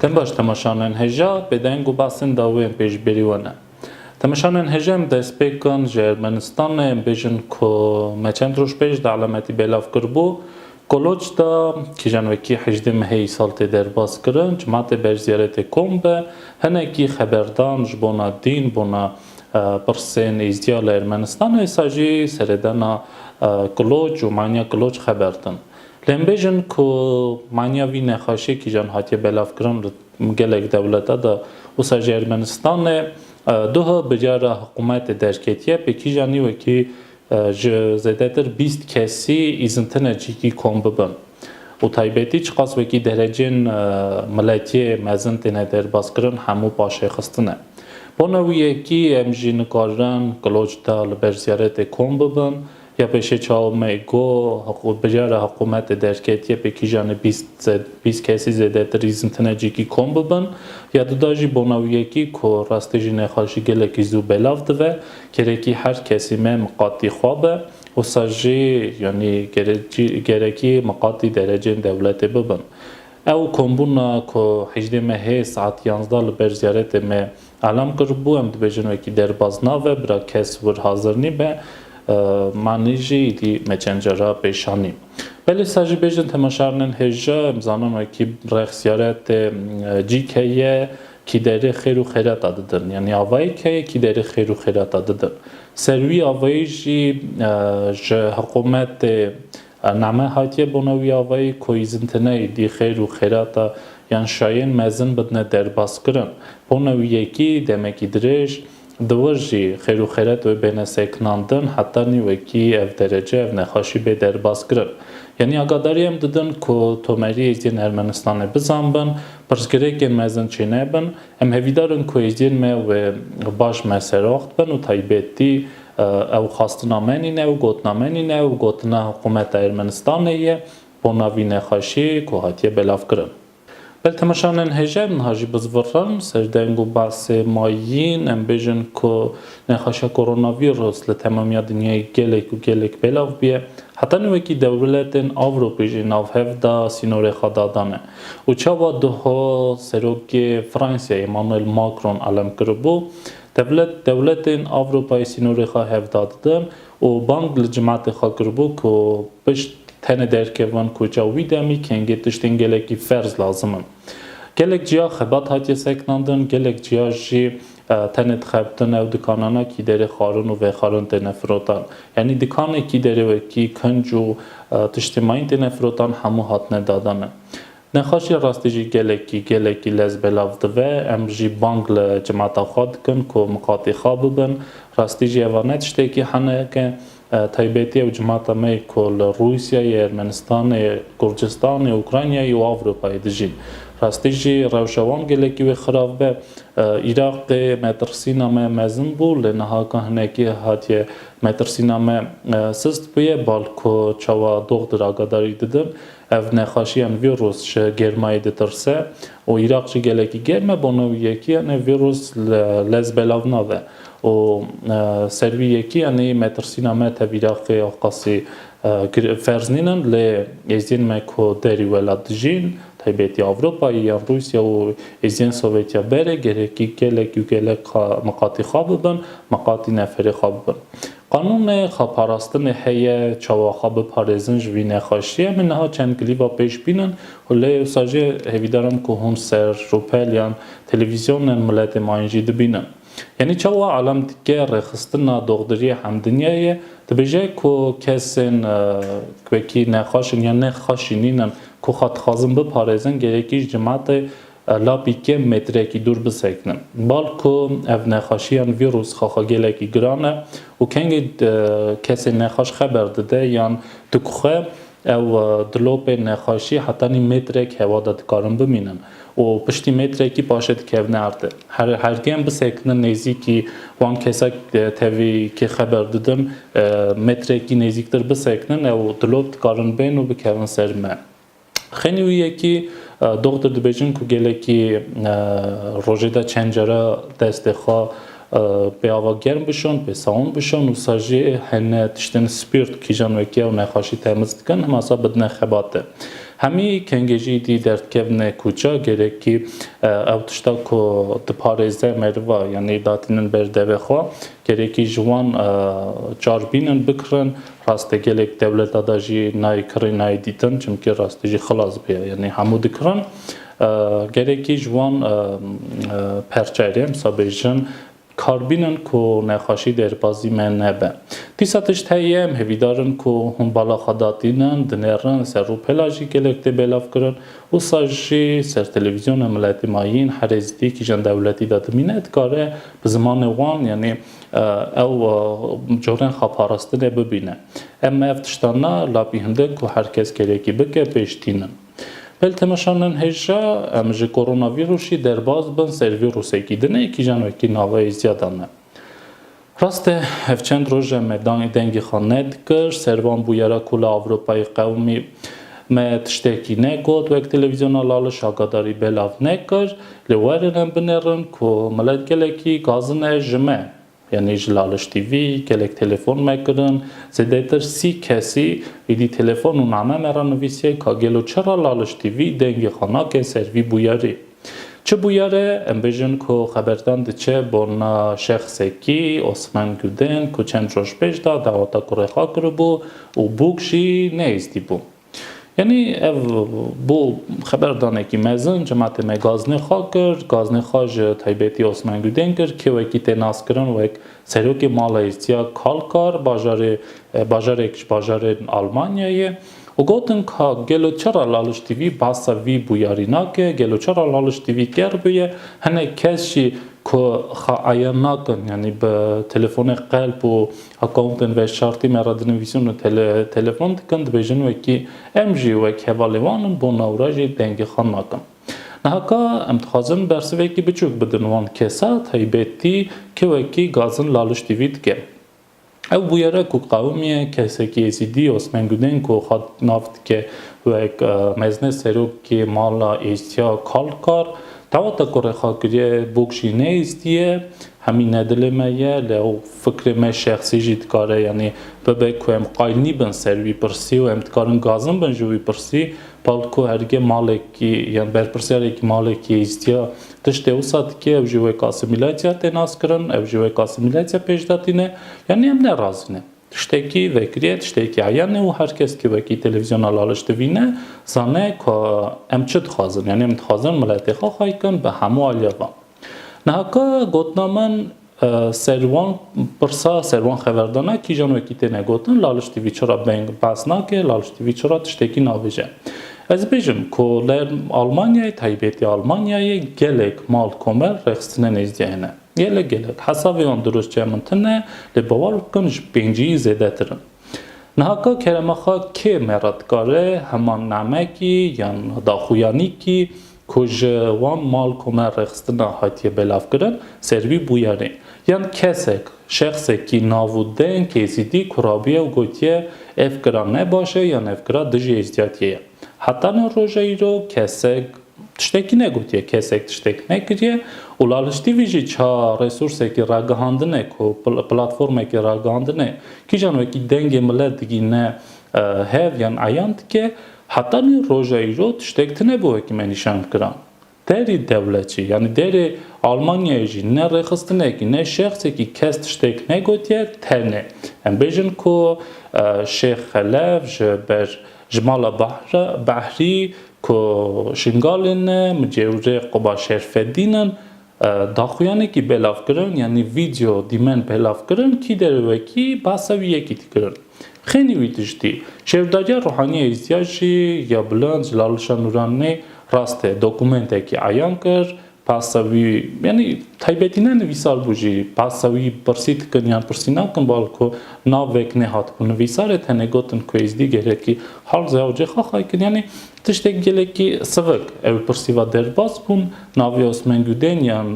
Tim baş temaşanên heja bêdeng û basên dawiyên pê ji bêrî we ne. Temaşanên heja em destpêkan ji Ermenistanê em bêjin ku me çend roj pêş di elemetî bêlav kiribû Koloç de kîjan wekî hejdê mehê yî sal tê derbas kirin, cemaatê berj ziyaretê kom be, hinekî xeberdan ji bona dîn, bona pirsên Êzdiya li Ermenistanê êsa jî seredana Koloç û manya Koloç xeber din. Lê em bêjin ku manya vî nexaşê kîjan hatiye belavkirin li gelek dewlete de, wisa jî Ermenistanê, duh biryara hikûmetê derketiye pê kîjanî wekî Ji zêdetir bîst kesî îzintine çîkî kom bibin û taybetî çiqas wekî derecên miletiyê mezin têne derbazkirin hemû paşêxistin e. Bona wî ye kî em jî nikarin kiloç da li ber ziyaretê kom bibin ya pêşê çawa me got biryara hiqûmetê derketiye pê kîjanê bîst kesî zêdetir îzintine çîkî kom bibin ya dida jî bona wî ye kî ku rastê jî nexweşî gelekî zû belav dive Gerekî her kesî me miqatî xwe be, wisa jî yanî gerekî miqatî derecên dewletê bibin. Ew kombûna ku hejdê Mehê saet yanzdeh li ber ziyaretê me elam kiribû, em dibêjin wekî derbas nabe, bira kes wir hazir nîbe, manî jî îdî me çend cara pêş anî. Belê wisa jî bêjin temaşar nin hêja, em zanin wekî rex ziyaretê cî ke ye, Kî derê xêr û xêreta didin. Yanî avayê keyê kî derê xêr û xêreta didin. Ser wî avayî jî ji hiqûmetê name hatiye bona wî avayî ku îzintine êdî xêr û xêreta yan şayên mezin bidine derbas kirin. Bona wî yekî demekî dirêj Di wir jî xêr û xêret wê bêne sekinandin heta nî wekî ev derece, ev nexweşî bê derbaskirin. Yanî agadarî em didin ku tomerî êzidiyên Ermenistanê bizanbin, pirsgirêkên me zin çênebin. Em hevîdar in ku êzidiyên me wê baş meseroxt bin û taybetî ew xwastina me nîne û gotina me nîne û gotina hikumeta Ermenistanê ye bo na vî nexweşî ku hatiye belavkirin. Bel temeşanên hêjayî niha jî bi zivrin, serdeng û basê ma yîn. Em bêjin ku nexweşa koronavîrus li temamiya dinyayê gelek û gelek belav bûye. Heta nû wekî dewrletên Ewropê jî navhev da sînorê xwe dadane û çawa diho Serokê Fransayê Emmanuel Macron elem kiribû, Dewlet dewletên Ewropayê sînorê xwe hevda didin û bang li cimatê xwe kiribû ku pişt tenê derkeve van koça û wî demî kengê tiştên gelekî ferz lazim in. Gelek ciya xebat hatiye sekinandin, gelek ciya jî tenê dixebtin ew dikanana kî derê xwarin û vexwarin têne firotan. Yanî dikanê kî derê wekî kinc û tiştê mayîn têne firotan hemû hatine dadanê. Nexweşiya rastî jî gelekî gelekî lez belav dive. Em jî bang li cemata xwe dikin ku miqatî xwe bibin. Rastî jî eva ne tiştekî henek e. Taybetî ew cemata me yê ku li Rûsyayê, Ermenistanê, Kurdistanê, Ukraynayê û Ewropayê dijîn. Rastî jî rewşa wan gelekî wê xirav be. Îraqê metirsîna me mezin bû lê niha ka hinekî hatiye metirsîna me sist bûye. Bal ku çawa doxdir agadarî didin Ev nexaşiyan vîrus ji germayî ditirse û Îraq jî gelekî germ e, bo no wî yekîyanê vîrus li lez belav nabe û ser wî yekîyanî me tirsîna me tev Îraqê ya xwe qasî ferz nînin lê êziyên me ku derî welat dijîn taybetî Ewropayê yan Rûsya û êziyên Sovetiya berê gerekî gelekî û gelek miqatî xwe bibin, miqatî neferê xwe bibin. Qanûnê xeparastinê heye, çawa xwe biparêzin ji vî nexweşiyê me niha çend klîba pêş bînin û lê ewsa jî hêvîdaran ku hûn ser, rûpel yan televîzyonên miletê ma jî dibînin. Yanî çawa elem dike rêxistina doxdiriyê hemdinyayê dibêje ku kesên ku wekî nexweş in yan nê xwe şînîn in ku xwe dixwazin biparêzin gerek î ji cemaetê Lapî kêm metrekî dûr bisekinin. Bal ku ev nexweşiyan vîrus xaxagelekî giran e û kengî kesê nexweş xeber dide yan dikuxe ew di lopê nexweşî hetanî metrek hewa de dikarin bimînin û piştî metrekî paşê dikevne erdê. Her her kêm bisekinin nêzîkî wan kesa tevî kê xeber didin metrekî nêzîktir bisekinin ew di lop dikarin bên û bikevin ser me. Xênî wî ye kî doxtir dibêjin ku gelekî rojê de çend care destê xwe pê ava germ bişon, pê sawin bişon û sa jî hene tiştên spîrt kîjan wekîya û nexaşî temiz dikin hema sa bidine xebate. Hemî kengê jî dî derdkevine kûça gerekî ew tişta ku diparêze meriva yanî datînin ber devê xwe Gerekî ji wan çar bînin bikirin. Raste gelek dewleta de jî nayê kirê nayê dîtin çimkî rastî jî xilas bê yanî hemû dikirin. Gerekî ji wan perçeyê de em sa bêjin kar bînin ku nexweşî derbazî me nebe. Dîsa tişt heye em hevîdar in ku hûn bala xwe datînin, dinerin, ser rûpela jî gelek tê belavkirin. Wisa jî ser televîzyona miletî mayîn herê zîdî kîjan dewletî de dimîne dikare Bi zimanê wan yanî ew carên xweparastinê bibîne. Em ev tiştan na labîhindin ku her kes kerekî bike pêş tînin. Pil temeşa nin hêja em ji koronavîrûsî derbas bin ser vîrûsekî di ne kîjan wekî naveyê ziyada ne. Rast e ev çend roj em me dengê xwe nedikir ser van bûyera ku li Ewropayê qewimî me tiştekî negot wek televîzyona Laliş agadarî belav nekir Lê werin em binêrin ku milet gelekî gazin e ji me. Yanî ji laliştî vî gelek telefon me kirin. Zêdetir sî kesî êdî telefon û name me re nivîsiye ka gelo çira laliştî vî dengê xwe nake ser vî bûyerî. Çi bûyere em bêjin ku xeberdan diçe bona şexsekî, Osman Guden, ku çend roj pêş de daweta kurê xwe kiribû û bûk jî neyêzdîbû. Yanî ev bo xeberdanekî mezin cemaatê me gaznê xwe kir. Gaznê xwe ji taybetî Osman Gudên kir ke wekî tê naskirin wek Serokê Mala Îstiya Kalkar bajarê bajarek ji bajarên Almanyayê û gotin ka gelo çira Laliş Tîvî basa vî bûyarî nake, gelo çira Laliş Tîvî ker bûye, hinek kes jî ku xeayan nakin yanî bi telefonê qelp û Accountên veşartî me re dinivîsin û telefon dikin, dibêjin wekî em jî wek hevalên wan in, bo nawra jî dengê xwe nakin. Niha ka em dixwazin bersivekî biçûk bidin wan kesa taybetî ke wekî gazin laliştî vî dikin. Ew bûyere ku qewimiye kesekî Êzîdî Osman Gudên ku xwe nav dike wek mezne serokê mala Êzîdî ya Kalkar, daweta ku rêxakirîyê Bokşî neyîzdiye Hemî ne dilê me ye, lê ew fikrê me şexsî jî dikare yanî bibe ku em qayîl nîbin ser wî pirsî û em dikarin gazin bin ji wî pirsî. Pal ku hergê malekî yan berpirsyarekî malekî hîstiya tiştê wisa dike ew jî wek asîmîlatya tê naskirin, ew jî wek asîmîlatya pêşda tîne. Yanî em ne razî ne. Tiştekî vekiriye, tiştekî eyan e û her kes ku wekî televîzyona laliş divîne zane ku em çi dixwazin. Yanî em dixwazin miletê xwe xaykin bi hemû aliya van. Niha ka gotina min ser wan pirsa, ser wan xeberdana kîjan wekî têne gotin, Laliş TV çira beng behs nake, Laliş TV çira tiştekî nabêje. Ez bêjim ku li Almanyayê, taybetî Almanyayê gelek mal komel rêxistine nêzdîya hene. Gelek gelek. Hesavê wan dirûstçe min tune lê bawer bikin ji pêncîyî zêdetir in. Niha ka kerema xwe kê mêra dikare heman namekî yan daxuyanîkî, ku ji wan mal kome rêxistina hatiye belavkirin, ser wî bûye rê. Yan kesek, şexsekî nav û deng Êzîdî ku rabûye û gotiye ev kira ne baş e yan ev kira dijî êzdiyatiyê ye. Heta ne roja îro kesek tiştekî negotiye, kesek tiştek nekiriye û Laliş TV jî ça resûrsekî ragihandine ku platformekî ragihandine kîjan wekî dengê milet digihîne hev yan eyan dike Heta nî roja îro tiştek tine bo hekîme nîşan kiran. Derî dewletçî yanî derê Almanyayê jî ne rêxistinekî ne şexsekî kes tiştek negotiye tenê em bêjin ku Şêx Xelef ji ber ji mala Behrî ku Şingalê ne micêwirê Quba Şerfedîn in Daxuyanekî belav kirin yanî vîdeo dîmen belav kirin kî derê wekî bahsa wî yekî dikirin. Xênî wî tiştî. Şêrdager Ruhaniya Îzyaşî ya Bilind ji Lalişa Nûranî rastê dokumentekî eyan kir. Bahsa wî yanî taybetî ne nivîsar bû jî bahsa wî pirsî dikin yan pirsî nakin balko navek nêhatibû nivîsarê tenê gotin ku Êzdîgerê kî Halze Hewcê Xaxay kir yanî Tiştê gelekî sivik ew pirsî va derbas bûn, navê Osman Gudên yan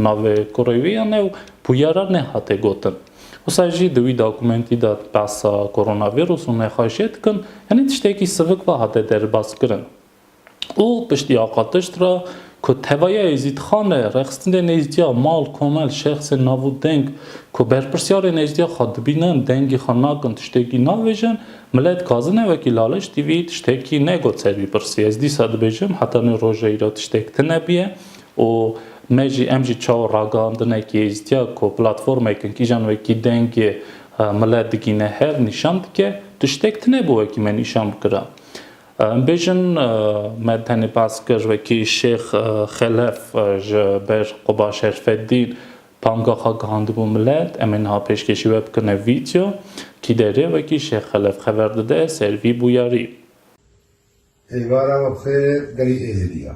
navê kurê wî yan ew puya re nehate gotin. Wisa jî di wî dokumentî de behsa koronavîrus û nexweşiyê dikin, yanî tiştekî sivik va hate derbas kirin. Û piştî aqatiş re, Ku tevaya Êzîdxan e, rexistinê nêzdîya mal, komel, şexsên nav û deng ku berpirsyarên nêzdîya xwe dibînin, dengî xwe nakin, tiştekî navêjin, millet dixwazin e wekî Laleş TV tiştekî negot ser vî pirsî. Ez dîsa dibêjim heta nê roja îro tiştek tine bîye û me jî em jî çawa ragihandinekî êzdîya ku platformek in kîjan wekî dengê millet digîne hev nîşan dike, tiştek tine bû wekî me nîşan bikira. Em bêjin me tenê baz kir wekî Şêx Xelef ji ber ku ba Şerfeddîn panga xwe gihandibû milet, em ê niha pêşkêşî we bikin ev vîdyo, kî derê wekî Şêx Xelef xeber dide ser vî bûyarî. Êvara we bi xêr berî êzidî ya.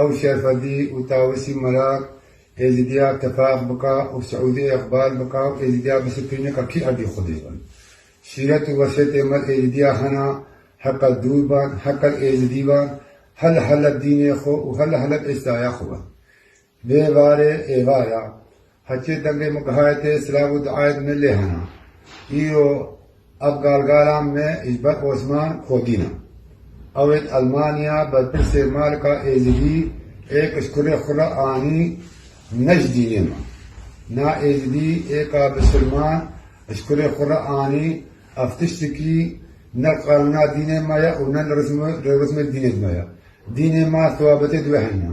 Ew şerfedî û tawisî merak Êzîdiya tifaq bika û Siûdî îqbal bika û Êzîdiya bisiprîne ka kî erdî Xwedî bin. Şîret û weşêtê me li Êzîdiya hena, he qet dûr ban, he qet Êzîdî ban, he li Heleb dînê xwe û he li Heleb êstaya xwe ban. Vê varê êvar a, Hetê dengê min gihayê te silav û duayê bi min lê hena. Îro ev galgalan me ji ber Osman Kodîn e. Ew ê di Elmanya berpirsê Malika Êzidî ê kişkurê xwe re anî ne ji dînê me. Na Êzidî ê ka bi silman ji kurê xwe re anî ev tiştekî ne li qanûna dînê me ye û ne li rêxismê dînê di me ye. Dînê ma sewabetê di wê heyna.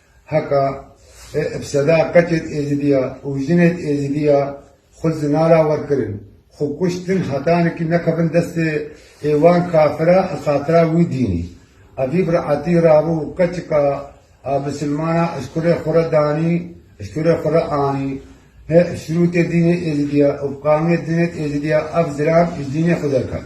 Heka e ev seda qeçên êzidiya û jinên êzidiya xwe zinara wer kirin, xwe kuştin hetanikî nekevin destê ê wan kafira a xatira wî dînî. Evî bi reetî rabû qeçika a misilmana eşkurê xwe re danî, eşkurê xwe re anî. Hê şirûtê dînê êzidiya û bi qanûnê dinê êzidiya ev zilam ji dînê xwe derket.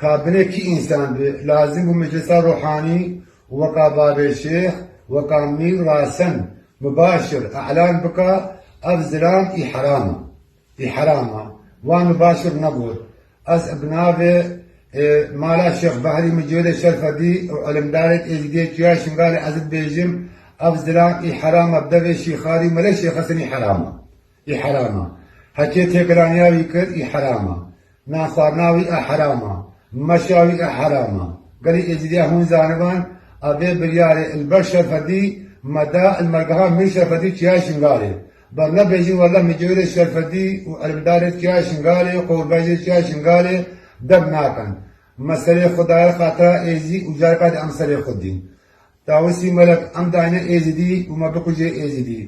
Ka binê kî însan bi, lazim bû meclisa ruhanî û weka Babê Şêx, weka Mîr Rasen mibaşir e'lan bika ev zilam î heram a. Î heram a. Wan mibaşir negot. Ez bi navê Mala Şêx Behrî Micêlê Şerfedî û îlimdarên Êzidiyê Çiya Şingalê ez dibêjim ev zilam î heram a bi devê Şîxarî û Mele Şêxesenî heram a. Î heram a. Hekê têkiraniya wî kir î heram a. Nan xwarina wî a heram a. Meşa wî a heram a. Gelê Êzîdiya hûn zaniban a vê biryarê Ilber Şerfedî me da il mergeha Mîr Şerfedî Çiyaya Şingalê. Bar nebêjin wella micêwirê Şerfedî û elmdarê Çiyaya Şingalê û qewilbejê Çiyaya Şingalê dem nakin. Me serê xwe daye xatira Êzî û careka di em serê xwe dîn. Tawusî Melek, Em dayne Êzidî û me bikuje Êzidî.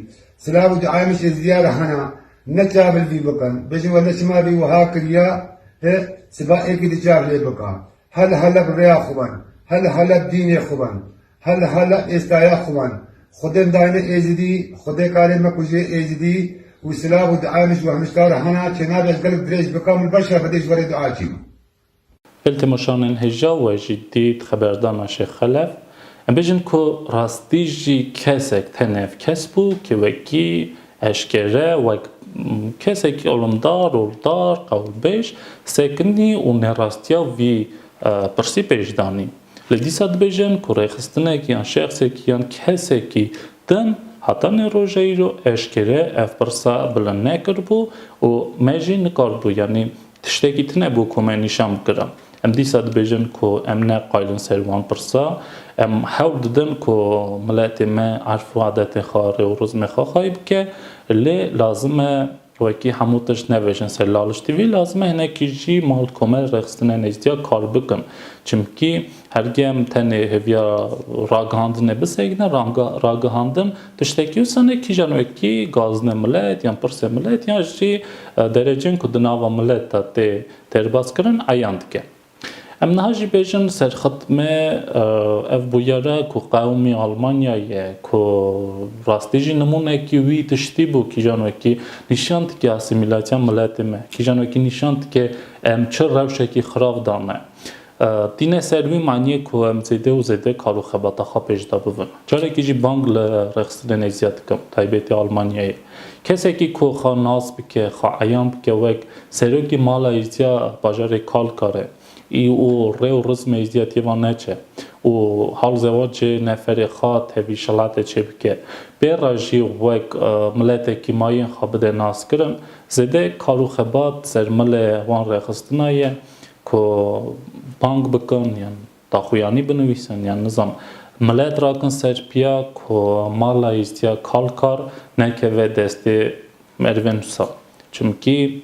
Silav û diayê min ji Êzidîya re hene. Ne çavil vî bikin. Bêjin wele çima vî wiha kiriye hi siba êkî di çav lê bike. He li Heleb rêya xwe ben. He li Heleb dînê xwe ben. He li Heleb êstaya xwe ben. Xwedên dayne Êzidî, Xwedê karê me kuje Êzidî û silav û diayê min ji wehmijkar re hene. Çênavê ez gelek dirêj bikim li ber şevbedê ji werê dia çîm. Gel temaşanên heja we jî dît xeberdana Şêx Xelef, em bêjin ku rastî jî kesek tenev kes bû ke wekî eşkere wek kesekî alomdar, roldar, qewilbêj sekinî û nêrastiya vî pirsî pêş danî. Lê dîsa dibêjin ku rêxistinekî yan şexsekî yan kesekî din hetanî roja îro eşkere ev pirsa bilind nekiribû û me jî nikaribû yanî Tiştekî tune bû ku me nîşan bikirin. Em dîsa dibêjin ku em ne qayilin ser wan pirsa. Em hewl didin ku miletê me erf û adetên xwe, rê û rizmê xwe xayî bike. Lê lazim e wekî hemû tişt nevejin ser laliştî vî. Lazim e hinekî jî mal komel rêxistinê nêzdîya kar bikin. Çimkî Hergê em tenê hêviya ragihandinê bisegnin, ragihandin tiştekî wisa ne kîjan wekî gaznê milet yan pirsê milet yan jî derecên ku di nava milet de tê têrbaskirin eyan dike. Em niha jî bêjin serxitmê ev bûyera ku qewimî Almanyayê ye ku rastî jî nimûnekî wî tiştî bû kîjan wekî nîşan dike asîmîlasyon miletê me, kîjan wekî nîşan dike em çi rewşekî xirav da me. Tîne ser wî maniyê ku em zêde û zêde kar û xebata xwe pêş de bibin. Carekî jî bang li rexistinên êziyet dikim, taybetî Almanyayê. Kesekî ku xwe nas bike, xwe eyan bike wek serokî mala êziya bajarê Kalkare î û rê û rizmê êziyetiyê van neçe û hal zewacê neferê xwe tevî şelatê çê bike, pê re jî wek miletekî mayên xwe bide naskirin, zêde kar û xebat sermilê wan rexistina ye, Ku bang bikin yan daxuyanî binivîsin yan nizam milet rakin ser piya ku mala Îstîya Kalkar nekeve destê merivên wisa. Çimkî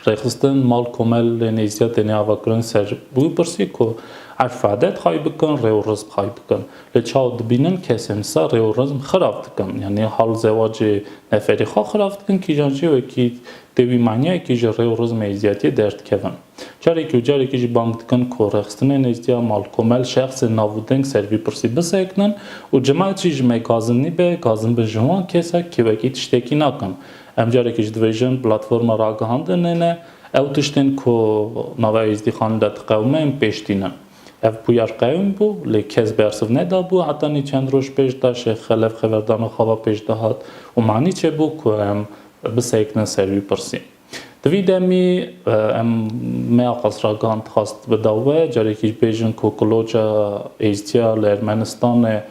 rêxistin mal komelên Îstîya têne avakirin ser wî pirsî ku erf û edet xayî bikin, rê û rizq xayî bikin. Lê çawa dibînin kesên wisa rê û rizm xirav dikin. Yanî hal zewacê neferî xwe xirav dikin kîjan jî wekî Tê wî maniyayekî ji rê û rizmê êzdiyatiyê derdikevin. Carekî û carekî jî bang dikin ku rêxistinên êzdiya mal, komel, şexsên nav û deng ser vî pirsî bisekinin û cimat jî ji me gazin nîbe, gazin bin ji wan kesa kê wekî tiştekî nakin. Em carekî ji dibêjin platforma ragihandinê ne, ew tiştên ku nava êzdîxanin de diqewime yên pêş tînin. Ev bûyer qewîm bû, lê kes bersiv nedabû heta nî çend roj pêş daşê xelef xeberdana xava pêş dihat û manî çêbû ku em Bisekine ser wî pirsî. Di vî demî em meya qasragan dixwest bida we, carekî ji bêjin ku Kuloca Êzdiya li Ermenistanê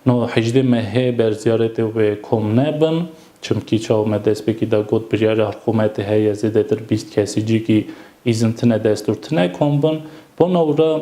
no hejdê mehê ber ziyaretê wê kom nebin. Çimkî çawa me destpêkî da got biryara hikûmetê heye zêdetir bîst kesî cî kî îzin tine destûr tine kom bin. Bona wira